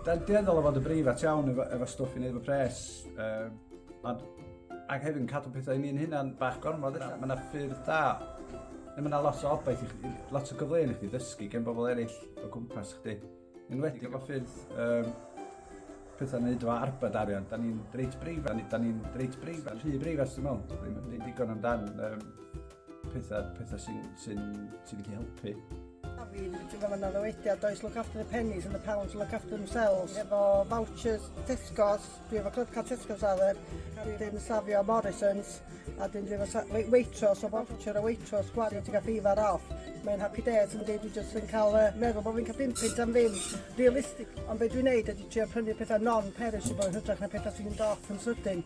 Da ni'n dueddol o fod yn breifat iawn efo, efo stwff i wneud efo pres. Um, ond, ac hefyd yn cadw pethau i ni'n hynna'n bach gormod yna. Mae yna ffyrdd da. Mae yna lot o obaith i chdi, lot o gyfleoedd i chdi ddysgu gen bobl eraill o gwmpas chdi. Yn wedi efo ffyrdd um, pethau yn neud efo arbed arian. Da ni'n reit breifat, da ni'n reit breifat, rhy breifat dwi'n meddwl. Ddim yn digon amdan um, pethau, pethau sy'n sy sy wedi helpu. A fi, ti'n gofyn ar ddywediad, does look after the pennies and the pounds look after themselves. Efo vouchers Tesco's, dwi efo club car Tesco's ar yr, a dyn safio Morrison's, a dyn dwi efo Waitrose, o voucher o Waitrose, gwari, ti'n cael beifar off. Mae'n happy days yn dweud, dwi jyst yn cael uh, meddwl bod fi'n cael dim pint am ddim, realistic. Ond beth dwi'n neud ydy trio prynu pethau non-perishable yn hytrach na pethau sy'n mynd off yn sydyn.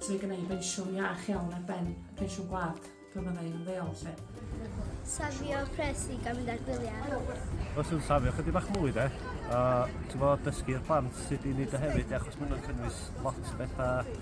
So mae gen i bensiwn iach iawn ar ben y pensiwn gwlad pan fydda i'n ymddeol, lle. Safio pres i gael mynd ar gwyliau. Os yw'n safio chydig bach mwy de, a ti'n bod dysgu'r plant sut i wneud o hefyd, achos maen nhw'n cynnwys lot o bethau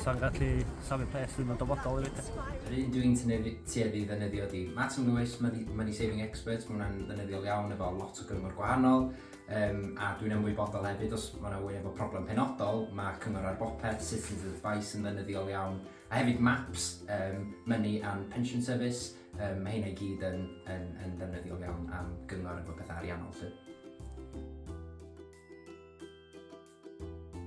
sa'n gallu safio pres ddim yn dyfodol i bethau. Yr un dwi'n tueddu ddefnyddio di Matt Lewis, Money Saving Experts, mae hwnna'n ddefnyddiol iawn efo lot o gyngor gwahanol, Yym, a dwi'n ymwybodol hefyd os mae yna wyn efo problem penodol, mae Cyngor ar Bopeth, Citizens with Advice yn ddynyddiol iawn, a hefyd MAPS, um, Money and Pension Service, um, mae hynna i gyd yn, yn, yn ddynyddiol iawn am gyngor efo pethau ariannol. Lly.